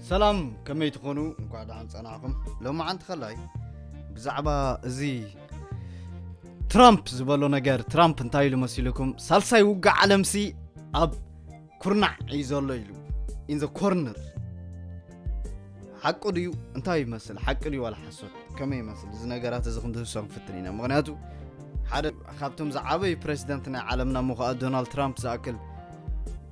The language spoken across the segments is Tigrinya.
ሰላም ከመይ ትኾኑ እንኳዕ ደሓን ፀናዕኹም ሎማዓንቲ ከላይ ብዛዕባ እዚ ትራምፕ ዝበሎ ነገር ትራምፕ እንታይ ኢሉ መሲልኩም ሳልሳይ ውግእ ዓለምሲ ኣብ ኩርናዕ እዩ ዘሎ ኢሉ ኢን ዘ ኮርነር ሓቁ ድዩ እንታይ ይመስል ሓቂ ድዩ ዋላ ሓሶት ከመይ ይመስል እዚ ነገራት እዚ ክንድህሶ ክንፍትን ኢና ምክንያቱ ሓደ ካብቶም ዝዓበዩ ፕሬዚደንት ናይ ዓለምና ምኳኣ ዶናልድ ትራምፕ ዝኣክል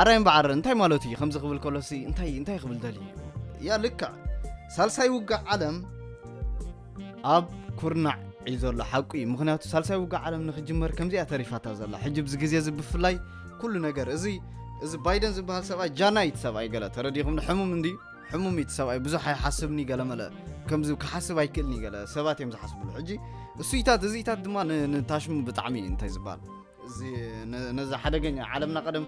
ዓራይ እምበዓር እንታይ ማለቱ እዩ ከምዚ ክብል ከሎሲ እንታይ እንታይ ክብል ደልዩ ያ ልክዕ ሳልሳይ ውግእ ዓለም ኣብ ኩርናዕ እዩ ዘሎ ሓቁ እዩ ምክንያቱ ሳልሳይ ውግእ ዓለም ንክጅመር ከምዚኣ ተሪፋታ ዘላ ሕጂ ብዚ ግዜ እዚ ብፍላይ ኩሉ ነገር እዚ እዚ ባይደን ዝበሃል ሰብኣይ ጃናይ እቲ ሰብኣይ ገለ ተረዲኹም ሕሙም እንዲ ሕሙም እቲ ሰብኣይ ብዙሕ ኣይሓስብኒ ገለ መለ ከምዚ ክሓስብ ኣይክእልኒ ገለ ሰባት እዮም ዝሓስብሉ ሕጂ እሱይታት እዚታት ድማ ንታሽሙ ብጣዕሚ እዩ እንታይ ዝበሃል ነዚ ሓደገኛ ዓለምና ቀደም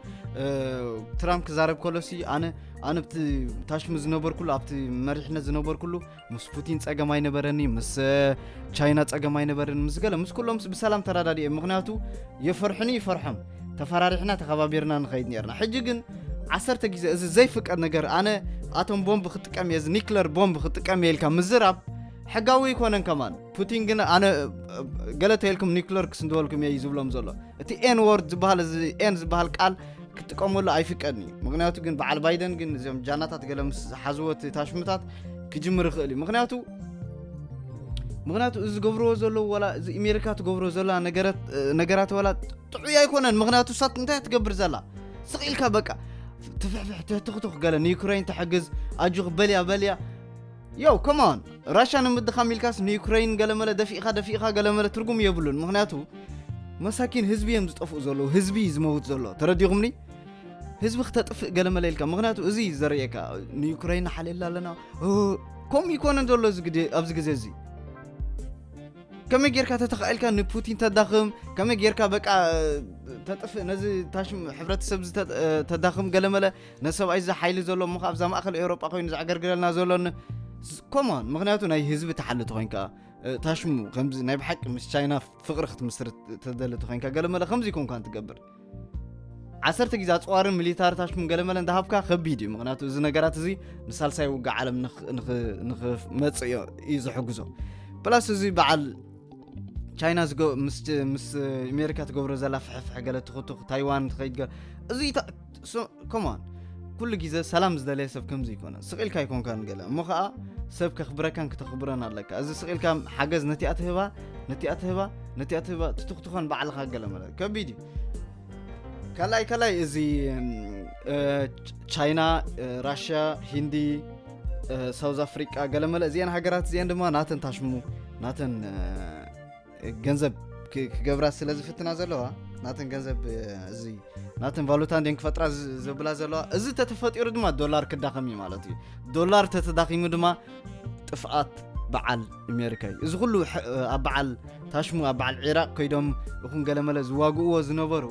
ትራምፕ ክዛረብ ከሎ ሲ ኣነ ኣነ ብቲ ታሽሙ ዝነበርኩሉ ኣብቲ መሪሕነት ዝነበርኩሉ ምስ ፑቲን ፀገም ኣይነበረኒ ምስ ቻይና ፀገም ኣይነበረኒ ምስ ገለ ምስ ኩሎም ብሰላም ተረዳድየ ምክንያቱ የፈርሑኒ ይፈርሖም ተፈራሪሕና ተኸባቢርና ንኸይድ ነርና ሕጂ ግን ዓሰርተ ግዜ እዚ ዘይፍቀድ ነገር ኣነ ኣቶም ቦምብ ክጥቀም እየ እዚ ኒክለር ቦምብ ክጥቀም እየ ኢልካ ምዝራብ ሕጋዊ ኣይኮነን ከማን ፑቲን ግን ኣነ ገለ ተልኩም ኒክለር ክስንትወልኩም እየ እዩ ዝብሎም ዘሎ እቲ ኤን ወርድ ዝበሃል እዚ ኤን ዝበሃል ቃል ክጥቀመሉ ኣይፍቀድን እዩ ምክንያቱ ግን በዓል ባይደን ግን እዚኦም ጃናታት ገለ ምስ ዝሓዝዎ እቲ ታሽምታት ክጅምር ይኽእል እዩ ምክንያቱ ምክንያቱ እዚ ዝገብርዎ ዘለዉ ዋላ እዚ ኣሜሪካ ትገብሮ ዘላ ነገራት ዋላ ጥዑይ ኣይኮነን ምክንያቱ ሳት እንታይ ትገብር ዘላ ስቕ ኢልካ በቃ ትፍሕፍሕ ትህትኽትኽ ገለ ንዩክሬን ተሕግዝ ኣጆኽ በልያ በልያ ዮው ኮም ኦን ራሻ ንምድኻም ኢልካስ ንዩክረይን ገለመለ ደፊእኻ ደፊእኻ ገለመለ ትርጉም የብሉን ምክንያቱ መሳኪን ህዝቢ እዮም ዝጠፍኡ ዘለዉ ህዝቢ እዩ ዝመውት ዘሎ ተረዲኹምኒ ህዝቢ ክተጥፍእ ገለመለ ኢልካ ምክንያቱ እዚ እዩ ዘርእየካ ንዩክረይን ንሓልየላ ኣለና ኦ፣ ከምኡ ይኮነን ዘሎ እዚ ግዜ- ኣብዚ ግዜ እዚ ከመይ ጌርካ ተተኻኢልካ ንፑቲን ተዳኽም ከመይ ጌርካ በቃ ተጥፍእ ነዚ ታሽም ሕብረተሰብ እዚ ተ- ተዳኽም ገለመለ ነዚ ሰብኣይ እዚ ሓይሊ ዘሎ እሞ ኣብዛ ማእከል ኤውሮጳ ኮይኑ ዘዕገርግረልና ዘሎ ኮሞን ምክንያቱ ናይ ህዝቢ ተሓሊ ተኮይንካ ታሽሙ ከምዚ ናይ ብሓቂ ምስ ቻይና ፍቅሪ ክትምስርት ተደሊ ተኮይንካ ገለመለ ከምዚ ኮንካ ትገብር ዓሰርተ ግዜ ኣፅዋርን ሚሊታሪ ታሽሙን ገለመለ እንዳሃብካ ከቢድ እዩ ምክንያቱ እዚ ነገራት እዚ ንሳልሳይ ውግእ ዓለም ንክመፅእ እዩ ዝሕግዞ ፕላስ እዚ በዓል ቻይና ምስ ኣሜሪካ ትገብሮ ዘላ ፍሕፍሕ ገለ ትኽትኽ ታይዋን ትኸይድ እዚ ኮማን ኩሉ ግዜ ሰላም ዝደለየ ሰብ ከምዚ ይኮነ ስቕ ኢልካ ይኮንካን ገለ እሞ ከዓ ሰብ ከኽብረካን ክተኽብረን ኣለካ እዚ ስቕ ኢልካ ሓገዝ ነቲኣ ትህባ ነቲኣ ትህባ ነቲኣ ትህባ ትትኽትኾን ባዕልኻ ገለ ማለት ከቢድ እዩ ካልኣይ ካልኣይ እዚ ቻይና ራሽያ ሂንዲ ሳውዝ ኣፍሪቃ ገለመለ እዚአን ሃገራት እዚአን ድማ ናተን ታሽሙ ናተን ገንዘብ ክገብራ ስለ ዝፍትና ዘለዋ ናተን ገንዘብ እዚ ናተን ቫሉታ እንዴን ክፈጥራ ዘብላ ዘለዋ እዚ ተተፈጢሩ ድማ ዶላር ክዳኸም እዩ ማለት እዩ ዶላር ተተዳኺሙ ድማ ጥፍኣት በዓል ኣሜሪካ እዩ እዚ ኩሉ ኣብ በዓል ታሽሙ ኣብ በዓል ዒራቅ ከይዶም እኹን ገለመለ ዝዋግእዎ ዝነበሩ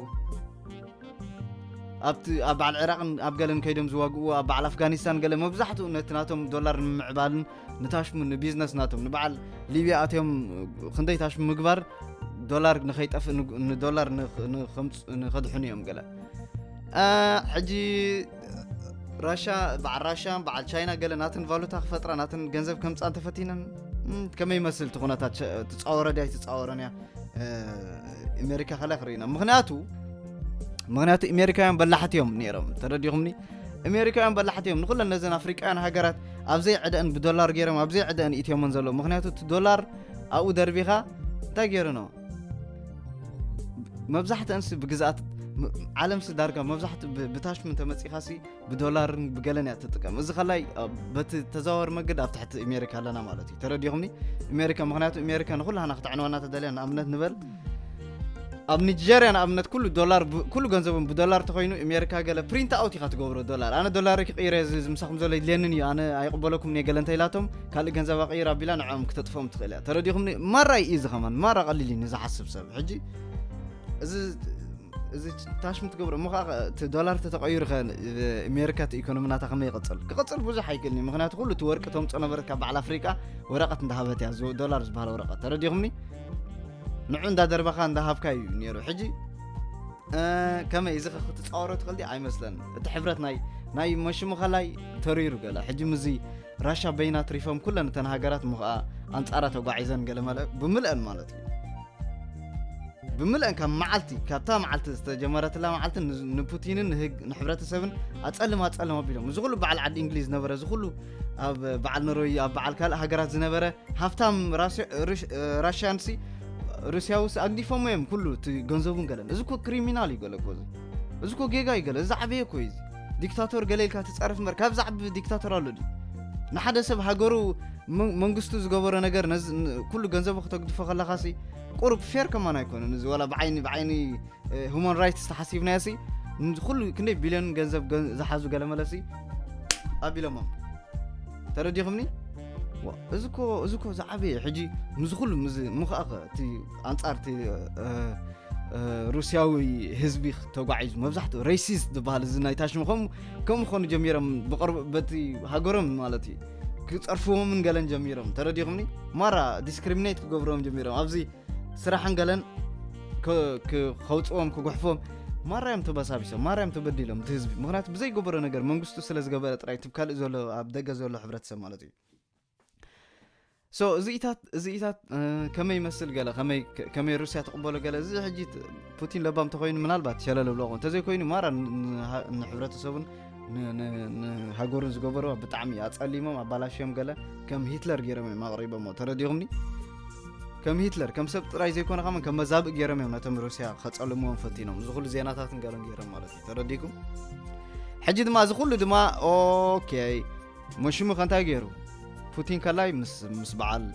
ኣብቲ ኣብ በዓል ዒራቅን ኣብ ገለን ከይዶም ዝዋግእዎ ኣብ በዓል ኣፍጋኒስታን ገለ መብዛሕትኡ ነቲ ናቶም ዶላር ንምምዕባልን ንታሽሙ ንቢዝነስ ናቶም ንበዓል ሊብያ ኣትዮም ክንደይ ታሽሙ ምግባር ዶላር ንኸይጠፍእ ንዶላር ንኸድሕኑ እዮም ገለ ሕጂ ራሻ በዓል ራሻ በዓል ቻይና ገለ ናትን ቫሉታ ክፈጥራ ናትን ገንዘብ ከምፃ እንተፈቲነን ከመይ ይመስል እቲ ኩነታት ትፃወረ ድያ ይትፃወረን እያ ኣሜሪካ ከላይ ክርኢና ምክንያቱ ምክንያቱ ኣሜሪካውያን በላሕት እዮም ነይሮም ተረዲኹምኒ እሜሪካውያን በላሕቲ እዮም ንኩለን ነዘን ኣፍሪቃውያን ሃገራት ኣብዘይ ዕደአን ብዶላር ገይሮም ኣብዘይ ዕደአን ኢትዮመን ዘሎ ምክንያቱ እቲ ዶላር ኣብኡ ደርቢኻ እንታይ ገይሩኖ መብዛሕተንሲ ብግዝኣት ዓለም ሲ ዳርጋ መብዛሕት ብታሽሙ ተመፂኻ ሲ ብዶላርን ብገለን እያ ትጥቀም እዚ ከላይ በቲ ተዘዋወር መገድ ኣብ ትሕቲ እሜሪካ ኣለና ማለት እዩ ተረዲኹምኒ እሜሪካ ምክንያቱ እሜሪካ ንኩላህና ክተዕንወና ተደልያ ንኣብነት ንበል ኣብ ንጀርያ ንኣብነት ኩሉ ዶላር ኩሉ ገንዘቦም ብዶላር ተኮይኑ ኣሜሪካ ገለ ፕሪንት ኣውት ኢኻ ትገብሮ ዶላር ኣነ ዶላር ክቕይረ እዚ ምሳኹም ዘሎ ይድልየንን እዩ ኣነ ኣይቕበለኩም እየ ገለ እንተኢላቶም ካልእ ገንዘብ ኣቕይር ኣቢላ ንዕኦም ክተጥፍኦም ትኽእል እያ ተረዲኹም ማራ እዩ እዚ ከማን ማራ ቀሊል እዩ ንዝሓስብ ሰብ ሕጂ እዚ እዚ ታሽ ምትገብሮ እሞ ከዓ እቲ ዶላር ተተቐይሩ ከ ኣሜሪካ እቲ ኢኮኖሚ ናታ ከመይ ይቕፅል ክቕፅል ብዙሕ ኣይክእልኒ ምክንያቱ ኩሉ እቲ ወርቂ ተምፆ ነበረት ካብ በዓል ኣፍሪቃ ወረቐት እንዳሃበት እያ ዶላር ዝበሃል ወረቐት ተረዲኹምኒ ንዑ እንዳደርበኻ እንዳሃብካ እዩ ነይሩ ሕጂ ከመይ እዚ ክትፃወሮ ትኽእልዲ ኣይመስለን እቲ ሕብረት ናይ ናይ መሽሙኸላይ ተሪሩ ገለ ሕጂ ምዚ ራሻ በይና ትሪፎም ኩለን እተን ሃገራት እሞ ከዓ ኣንፃራ ተጓዒዘን ገለ መለ ብምልአን ማለት እዩ ብምልአን ካብ መዓልቲ ካብታ መዓልቲ ዝተጀመረትላ መዓልቲ ንፑቲንን ንሕብረተሰብን ኣፀልም ኣፀልም ኣቢሎም እዚ ኩሉ በዓል ዓዲ እንግሊዝ ነበረ እዚ ኩሉ ኣብ በዓል ኖርወይ ኣብ በዓል ካልእ ሃገራት ዝነበረ ሃብታም ራሽያንሲ ሩስያውስ ኣግዲፎሞ እዮም ኩሉ እቲ ገንዘቡን ገለን እዚ ኮ ክሪሚናል እዩ ገለ ኮዚ እዚ ኮ ጌጋ እዩ ገለ እዚ ዓበየ ኮ እዚ ዲክታቶር ገለ ኢልካ ትፀርፍ እምበር ካብ ዛዕቢ ዲክታቶር ኣሎ ድዩ ንሓደ ሰብ ሃገሩ መንግስቱ ዝገበሮ ነገር ኩሉ ገንዘቡ ክተግድፎ ከለካ ቁሩብ ፌር ከማን ኣይኮነን እዚ ዋላ ብዓይኒ ብዓይኒ ሁማን ራይትስ ተሓሲብናዮ ሲ ንኩሉ ክንደይ ቢልዮን ገንዘብ ገ- ዝሓዙ ገለመለ ሲ ኣቢሎሞም ተረዲኹምኒ ዋ፣ እዚ እኮ እዚ እኮ ዝዓበየ ሕጂ ምስዚ ኩሉ ምስዚ እሞ ከዓ እቲ ኣንጻር እቲ እ፣ እ፣ ሩስያዊ ህዝቢ ተጓዒዙ መብዛሕትኡ ሬሲስት ዝበሃል እዚ ናይ ታሽሙ ከም ከም ኾኑ ጀሚሮም ብቕርብ በቲ ሃገሮም ማለት እዩ ክፀርፍዎምን ገለን ጀሚሮም ተረዲኹምኒ ማራ ዲስክሪሚኔት ክገብርዎም ጀሚሮም ኣብዚ ስራሕን ገለን ከውፅዎም ክጉሕፎም ማራዮም ተበሳቢሶም ማራዮም ተበዲሎም እቲ ህዝቢ ምክንያቱ ብዘይገበሮ ነገር መንግስቱ ስለ ዝገበረ ጥራይ እቲ ካልእ ዘሎ ኣብ ደገ ዘሎ ሕብረተሰብ ማለት እዩ ሶ እዚኢታት እዚኢታት ከመይ ይመስል ገለ ከመይ ሩስያ ትቕበሎ ገለ እዚ ሕጂ ፑቲን ለባም እንተኮይኑ ምናልባት ሸለል ብሎ ክኸውን እንተዘይኮይኑ ማራ ንሕብረተሰቡን ንሃገሩን ዝገበሩ ብጣዕሚ ኣፀሊሞም ኣባላሽዮም ገለ ከም ሂትለር ገይሮም እዮም ኣቕሪቦሞ ተረዲኹምኒ ከም ሂትለር ከም ሰብ ጥራይ ዘይኮነ ከመን ከም መዛብእ ገይሮም እዮም ነቶም ሩስያ ከፀልምዎም ፈቲኖም እዚ ኩሉ ዜናታት ንገሎም ገይሮም ማለት እዩ ተረዲኩም ሕጂ ድማ እዚ ኩሉ ድማ ኦኬ መሽሙ ከንታይ ገይሩ ፑቲን ከላይ ምስ በዓል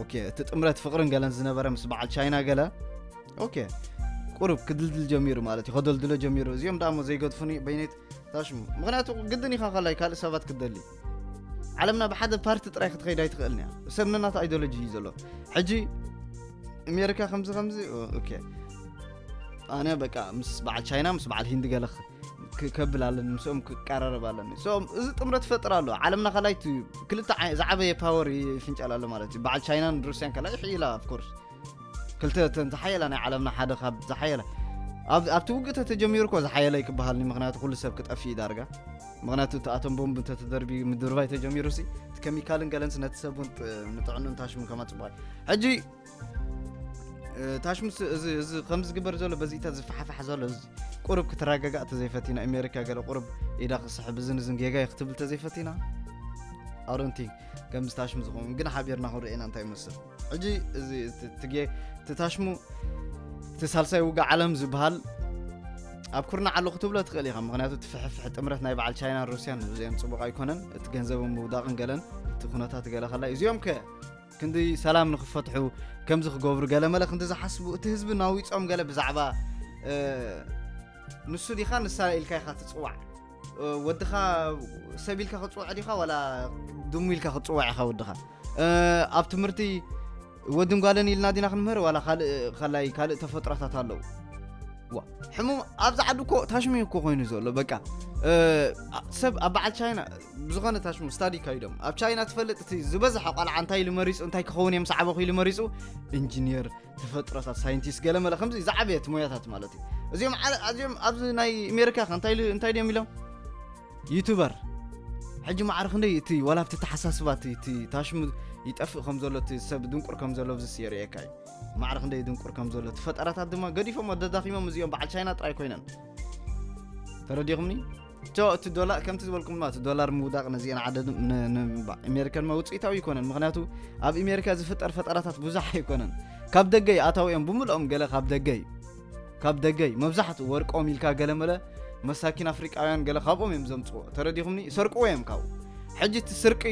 ኦኬ እቲ ጥምረት ፍቅርን ገለን ዝነበረ ምስ በዓል ቻይና ገለ ኦኬ ቁሩብ ክድልድል ጀሚሩ ማለት እዩ ከደልድሎ ጀሚሩ እዚኦም ደኣ እሞ ዘይገድፉኒ በይነይት ታሽሙ ምክንያቱ ግድን ኢኻ ከላይ ካልእ ሰባት ክትደሊ ዓለምና ብሓደ ፓርቲ ጥራይ ክትኸይድ ኣይትኽእልን እያ ሰብ ነናት ኣይዲዮሎጂ እዩ ዘሎ ሕጂ ኣሜሪካ ከምዚ ከምዚ ኦኬ ኣነ በቃ ምስ በዓል ቻይና ምስ በዓል ሂንዲ ገለ ከብል ኣለኒ ምስኦም ክቀራረብ ኣለኒ ሶም እዚ ጥምረት ፈጥር ኣሎ ዓለምና ከላይ ክልተ ዝዓበየ ፓወር ይፍንጨል ኣሎ ማለት እዩ በዓል ቻይናን ሩስያን ከላይ ይሕይላ ኣፍኮርስ ክልተ እተን ዝሓየላ ናይ ዓለምና ሓደ ካብ ዝሓየላ ኣብቲ ውግእ ተተጀሚሩ እኮ ዝሓየለይ ክበሃልኒ ምክንያቱ ኩሉ ሰብ ክጠፍእ እዩ ዳርጋ ምክንያቱ እቲ ኣቶም ቦምብ እንተተደርቢ ምድርባይ ተጀሚሩ ሲ እቲ ከሚካልን ገለንስ ነቲ ሰብ እውን ንጥዕኑን ታሽሙን ከማ ፅቡቅ ሕጂ ታሽሙ እዚ ከም ዝግበር ዘሎ በዚታ ዝፈሓፋሕ ዘሎ ቁርብ ክትረጋጋእ ተዘይፈቲና ኣሜሪካ ገለ ቁርብ ኢዳ ክስሕብ እዝን እዝን ጌጋ እዩ ክትብል ተዘይፈቲና ኣሮንቲ ከምዚ ታሽሙ ዝኸውን ግን ሓቢርና ክንሪኤና እንታይ ይመስል ሕጂ እዚ ትጌ ትታሽሙ እቲ ሳልሳይ ውጋ ዓለም ዝበሃል ኣብ ኩርና ዓሉ ክትብሎ ትኽእል ኢኻ ምክንያቱ እቲ ፍሕፍሕ ጥምረት ናይ በዓል ቻይናን ሩስያን ንብዚኦም ፅቡቕ ኣይኮነን እቲ ገንዘብ ምውዳቕን ገለን እቲ ኩነታት ገለ ከላ እዚኦም ከ ክንዲ ሰላም ንክፈትሑ ከምዚ ክገብሩ ገለ መለ ክንዲ ዝሓስቡ እቲ ህዝቢ ናዊፆም ገለ ብዛዕባ ንሱ ዲኻ ንሳ ኢልካ ኢኻ ትፅዋዕ ወድኻ ሰብ ኢልካ ክፅውዕ ዲኻ ዋላ ድሙ ኢልካ ክፅዋዕ ኢኻ ወድኻ ኣብ ትምህርቲ ወድን ጓለን ኢልና ዲና ክንምህር ዋላ ካልእ ከላይ ካልእ ተፈጥሮታት ኣለዉ ሕሙም ኣብዚ ዓዲ እኮ ታሽሙ እኮ ኮይኑ ዘሎ በቃ ሰብ ኣብ በዓል ቻይና ብዝኾነ ታሽሙ ስታዲ ይካይዶም ኣብ ቻይና ትፈልጥ እቲ ዝበዝሐ ቆልዓ እንታይ ኢሉ መሪፁ እንታይ ክኸውን እዮም ሰዓበኹ ኢሉ መሪፁ ኢንጂኒየር ተፈጥሮታት ሳይንቲስት ገለመለ ከምዚ ዝዓበየት ሞያታት ማለት እዩ እዚኦም ኣዚኦም ኣብዚ ናይ ኣሜሪካ ከ እንታይ ድዮም ኢሎም ዩቱበር ሕጂ ማዕረ ክንደይ እቲ ዋላ ኣብቲ ተሓሳስባ እቲ ታሽሙ ይጠፍእ ከም ዘሎ እቲ ሰብ ድንቁር ከም ዘሎ ብዝስ የርእየካ እዩ ማዕረ ክንደይ ድንቁር ከም ዘሎ እቲ ፈጠራታት ድማ ገዲፎም ኣደዳኺሞም እዚኦም በዓል ቻይና ጥራይ ኮይነን ተረዲኹምኒ እቶ እቲ ዶላር ከምቲ ዝበልኩም ድማ እቲ ዶላር ምውዳቕ ነዚአን ዓደ ንኣሜሪካን መውፅኢታዊ ኣይኮነን ምክንያቱ ኣብ ኣሜሪካ ዝፍጠር ፈጠራታት ብዙሕ ኣይኮነን ካብ ደገ እዩ ኣታዊ እዮም ብምልኦም ገለ ካብ ደገ እዩ ካብ ደገ እዩ መብዛሕትኡ ወርቆም ኢልካ ገለ መለ መሳኪን ኣፍሪቃውያን ገለ ካብኦም እዮም ዘምፅዎ ተረዲኹምኒ ይሰርቅዎ እዮም ካብኡ ሕጂ እቲ ስርቂ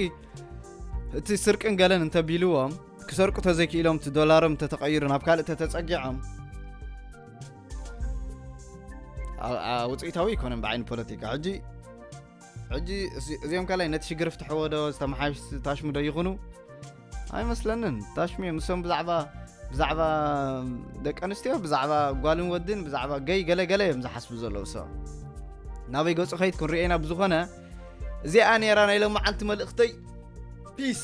እቲ ስርቅን ገለን እንተቢልዎም ክሰርቁ ተዘይክኢሎም እቲ ዶላሮም ተተቐይሩ ናብ ካልእ ተተፀጊዖም ውፅኢታዊ ኣይኮነን ብዓይኒ ፖለቲካ ሕጂ ሕጂ እዚኦም ካልኣይ ነቲ ሽግር ፍትሐዎ ዶ ዝተመሓሽ ታሽሙ ዶ ይኹኑ ኣይመስለንን ታሽሙ እዮም ንሶም ብዛዕባ ብዛዕባ ደቂ ኣንስትዮ ብዛዕባ ጓልን ወድን ብዛዕባ ገይ ገለገለ እዮም ዝሓስቡ ዘለዉ ሰ ናበይ ገፁ ከይት ክንሪኤና ብዝኾነ እዚኣ ነራ ናይ ሎመዓልቲ መልእኽተይ ፒስ